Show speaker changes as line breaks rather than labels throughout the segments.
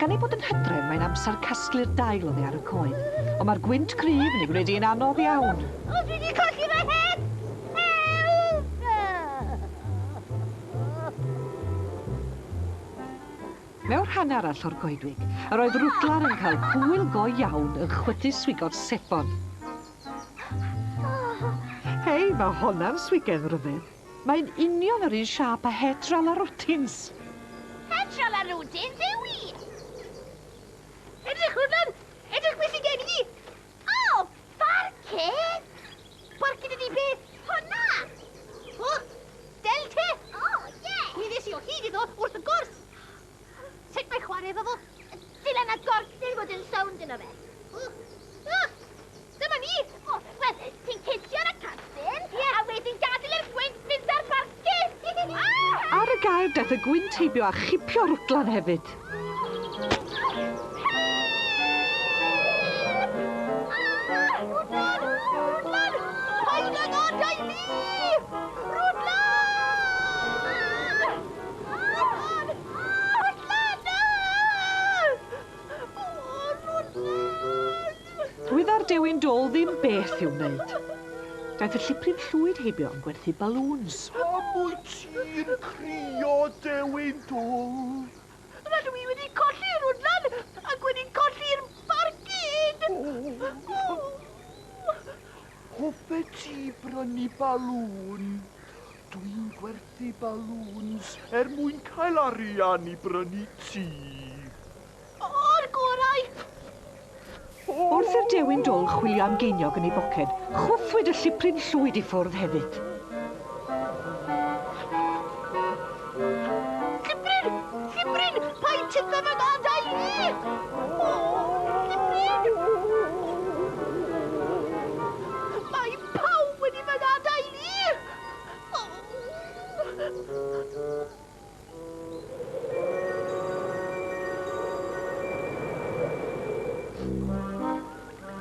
Gan ei bod yn hydref, mae'n amser casglu'r dail oddi ar y coed, ond mae'r gwynt cryf yn ei gwneud hi'n anodd iawn. O, dwi wedi colli fy het! Mewn rhan arall o'r goedwig, yr oedd Rwdlan yn cael hwyl go iawn yn chwythu swigod sebon. Hei, mae honna'n swigedd ryfedd! Mae'n union yr un siâp â het Ral a Rwtins! Het Ral a Rwtins yw hi! Edrych hwnna'n edrych beth sy'n gen i! O! Barcud! Barcud ydi beth? Hwnna! O! Del te! O, ie! Gwyddes i o hyd iddo wrth y gwrs! Sut mae chwarae efo fo? Dyle na gorc ddim bod yn sownd yno fe. O! O! Dyma ni! O, wel, ti'n cisio ar y castyn, yeah. a wedyn gadael i'r gwynt fynd ar barcyn! Ah! Ar y gair daeth y gwynt heibio a chipio rwtlan hefyd. Rwydda'r dewin dol ddim beth i'w wneud. Daeth y lliprif llwyd heibio yn gwerthu balŵns. Pam wyt ti'n crio, dewin dol? Rydw i wedi colli'r wdlan ac wedi colli'r barcud! Hoffet ti brynu balŵn? Dwi'n gwerthu Di balŵns er mwyn cael arian i brynu tŷ. O'r gorau! Wrth i'r dewin dôl chwilio am geiniog yn ei boced, chwythwyd y llipryn llwyd i ffwrdd hefyd. Llipryn! Llipryn! Paid tipyn fy ngadael i! O! Llipryn! Mae pawb wedi fy ngadael i!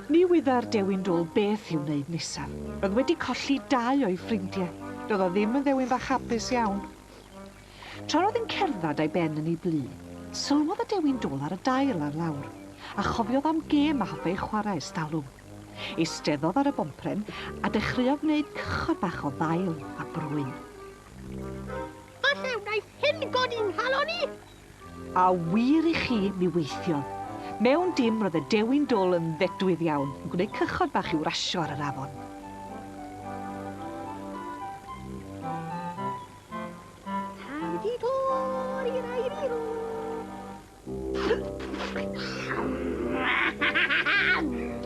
Ni wydda'r dewin rôl beth i'w wneud nesaf. Roedd wedi colli dau o'i ffrindiau. Doedd o ddim yn ddewin fach hapus iawn. Tra roedd yn cerdded a'i ben yn ei blu, sylwodd y dewi'n dwl ar y dail ar lawr, a chofiodd am gêm a hoffai chwarae estalwm. Eisteddodd ar y bompren a dechreuodd wneud cychod bach o ddail a brwyn. Falle wnaeth hyn godi 'nghalon i! A wir i chi, mi weithiodd. Mewn dim, roedd y dewi'n dwl yn ddedwydd iawn, yn gwneud cychod bach i'w rasio ar yr afon.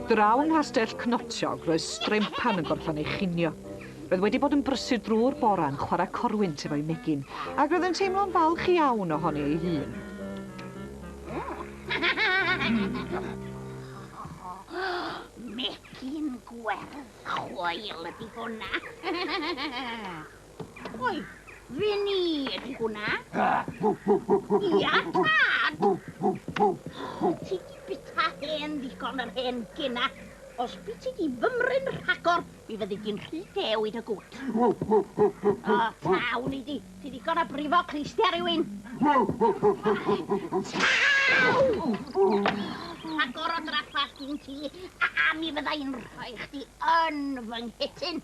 Draw yng Nghastell Cnoptiog roedd Strempan yn gorffan ei chinio. Roedd wedi bod yn brysur drwy'r bore'n chwarae corwynt efo'i megin, ac roedd yn teimlo'n falch iawn ohoni ei hun. Megin gwerdd chwael ydi hwnna! Oi, fe ni ydy hwnna. Ia, tad! Ti di bita hen ddigon yr hen gena. Os byd ti di fymryn rhagor, mi fyddi di'n rhy dew i dy gwt. O, tawn i di. Ti ddigon a brifo clistia rhywun. Tawn! Agor o draffa sgyn ti, a, a mi fydda i'n rhoi chdi yn fy nghetyn.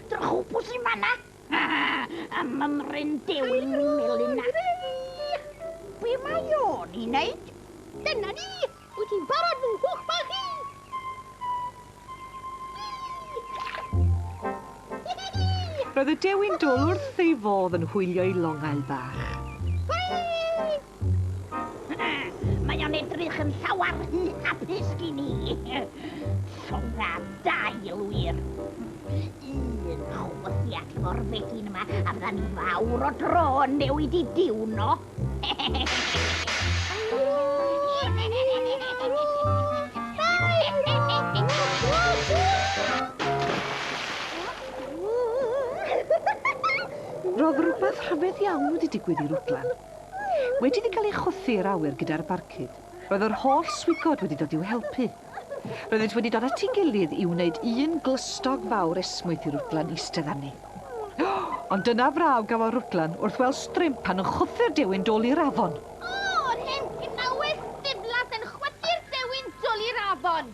Drychwpws i manna! Ha ha! A mymryn dewin melina! Be mae o'n i wneud? Dyna ni! Wyt ti'n barod fy nghwch bach i? Roedd y dewin dwl wrth ei fodd yn hwylio'i longail bach. Hwyl! Mae o'n edrych yn llawer rhy hapus gin i. Llonga dail wir. Un chwythiad efo'r fegin yma a fydda ni fawr o dro yn newid i diwno. Roedd rhywbeth rhyfedd iawn wedi digwydd i Rwdlan. Wedi iddi gael ei chwythu i'r awyr gyda'r barcud, roedd yr holl swigod wedi dod i'w helpu. Roeddynt wedi dod at ei gilydd i wneud un glystog fawr esmwyth i Rwdlan eistedd arni. Ond dyna fraw gafodd Rwdlan wrth weld Strymp pan yn chwythu'r dewin dwl i'r afon! O, yr hen gnawes ddiflas yn chwythu'r dewin dwl i'r afon!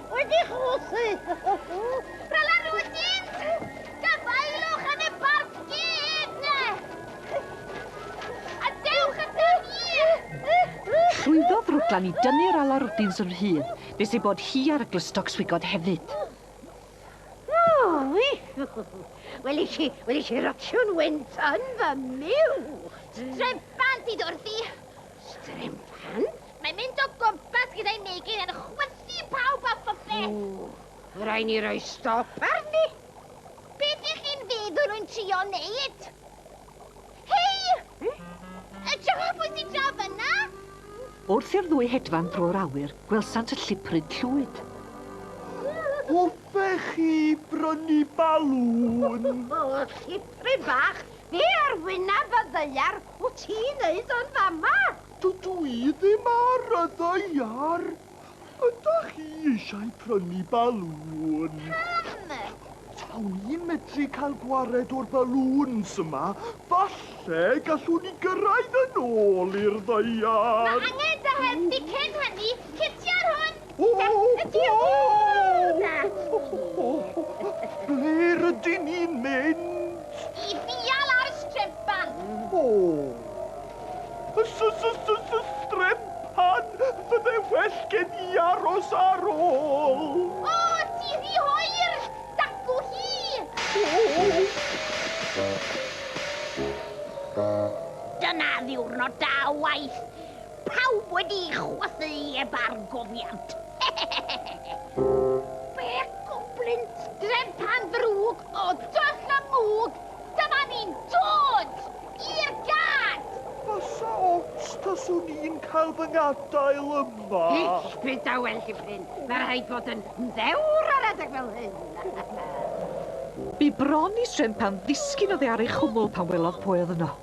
Wedi chwysu! Fel enw y dyn! Gafaelwch yn y barc gyd, ne! A dewch y da ni! Llwyddodd Rwglan i dynnu'r ala rwdins yn rhydd, nes ei bod hi ar y glustog swigod hefyd. Wel i chi, wel i chi rotio'n wynt yn fy miw! Strympan sydd wrthi! Strympan? Mae'n mynd o gwmpas gyda'i megin yn chwythu pawb a phopeth. Ww, rhaid ni roi stop arni. Beth ych chi'n feddwl rwy'n trio neud? Hei! Hmm? Edrychwch pwy sy'n draw fyna! Wrth i'r ddwy hedfan drwy'r awyr, gwelsant y lliprud llwyd. Hoffech chi brynu balŵn? O, lliprud bach, be ar wyneb y ddaear wyt ti'n neud yn fama? Dydw i ddim ar y ddaear. Ydach chi eisiau prynu balŵn? Pam? Tawn i'n medru cael gwared o'r balŵns yma. Falle gallwn ni gyrraedd yn ôl i'r ddaear. Mae angen dy help di cyn hynny. Cipio'r hwn! O! Ydy hwnna? Ble rydyn ni'n mynd? I ddial ar y streban. O! Srem pan fydde well gen i aros ar ôl. O, ti rhy hoer! Dacw hi! Dyna ddiwrnod da o waith. Pawb wedi chwythu heb argofiant. Be goblin? Srem pan ddrwg! O, doll a mwg! Dyma ni'n dod! I'r gad! Fasa ots taswn i'n cael fy ngadael yma. Eich byd a well i Bryn. Mae rhaid bod yn ddewr ar adeg fel hyn. Bu bron i swm pan ddisgyn oddi ar ei chwmwl pan welodd pwy oedd yno.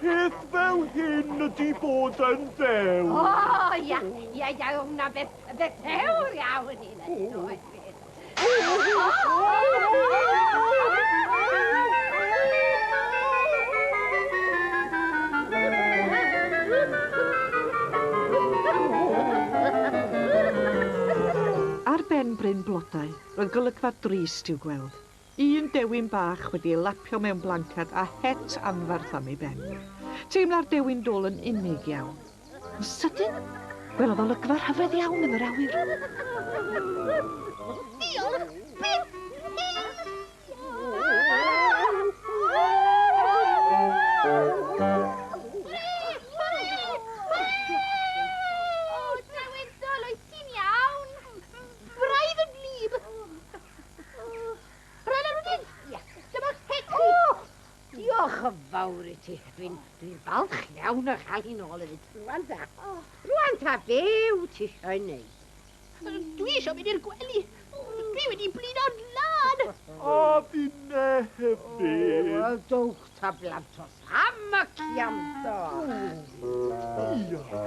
Peth fel hyn ydi bod yn ddewr. O, ia, ia, ia, o, na beth, beth ddewr iawn i na ni, oes beth. Ar ben bryn blodau, roedd golygfa drist i'w gweld. Un dewin bach wedi ei lapio mewn blancad a het anferth am ei ben. Teimla'r dewin dwl yn unig iawn. Yn sydyn, gwelodd olygfa rhyfedd iawn yn yr awyr. Diolch byth! Rhaid ar wedyn! Ia, dyma Hecsi! Diolch yn fawr i ti. Dwi'n dwi falch iawn o chael hi'n ôl hefyd. Rwan ta. Rwan ta, be wyt ti eisiau ei wneud? Dwi eisiau mynd i'r gwely. Dwi wedi blino'n lan. A finne hefyd. O, dowch ta blantos. Am y ciamdo. Ia.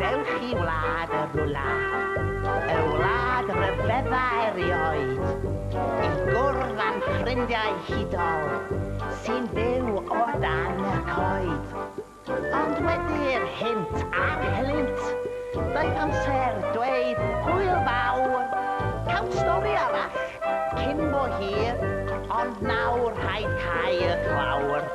Dewch i wlad y rwla, y wlad ryfedda erioed, i gwrdd â'n ffrindiau hudol sy'n byw o dan y coed. Ond wedi'r hynt a'r helynt, doedd amser dweud hwyl fawr, cawn stori arall cyn bo hir, ond nawr rhaid cau y clawr.